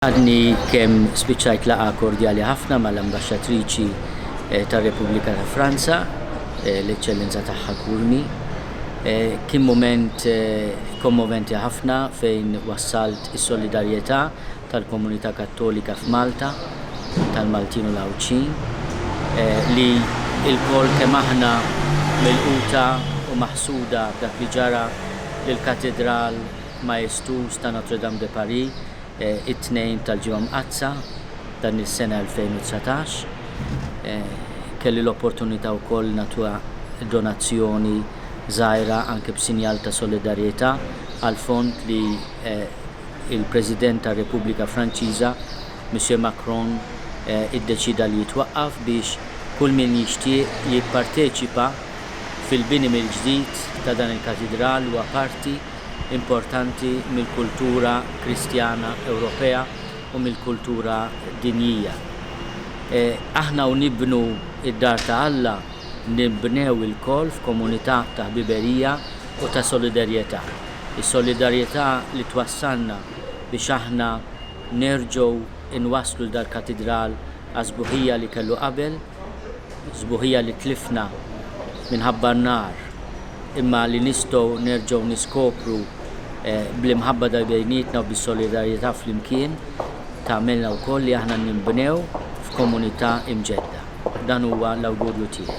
Għadni kemm spiċċajt laqgħa kordjali ħafna mal-Ambaxxatriċi tar-Repubblika ta' Franza, l-Eċċellenza Tagħha Curmi. Kien mument kommoventi ħafna fejn wassalt is-solidarjetà tal-komunità Kattolika f'Malta, tal-Maltin u l-Għawdxin, li lkoll kemm aħna milquta u maħsuda b'dak li ġara lill-Katidral maestuż ta' Notre Dame de Paris, it-Tnejn tal-Ġimgħa Mqaddsa dan is-sena 2019. Kelli l-opportunità wkoll nagħtuha donazzjoni żgħira anke b'sinjal ta' solidarjetà għal fond li l-President tar-Repubblika Franċiża, Monsieur Macron, iddeċieda li jitwaqqaf biex kull min jixtieq jipparteċipa fil-bini mill-ġdid ta' dan il-Katidral huwa parti importanti mill-kultura Kristjana Ewropea u mill-kultura dinjija. Aħna u nibnu d-dar ta' Alla nbnew ilkoll f'komunità ta' ħbiberija u ta' solidarjetà. Is-solidarjetà li twassalna biex aħna nerġgħu nwasslu l-dal-katidral għas-sbuħija li kellu qabel. sbuħija li tlifna minħabba n-nar imma li nistgħu nerġgħu niskopru eh, bl-imħabba ta' bejnietna u bis-solidarjetà flimkien tagħmilna wkoll li aħna ninbnew f'komunità imġedda. Dan huwa l-awgurju tiegħi.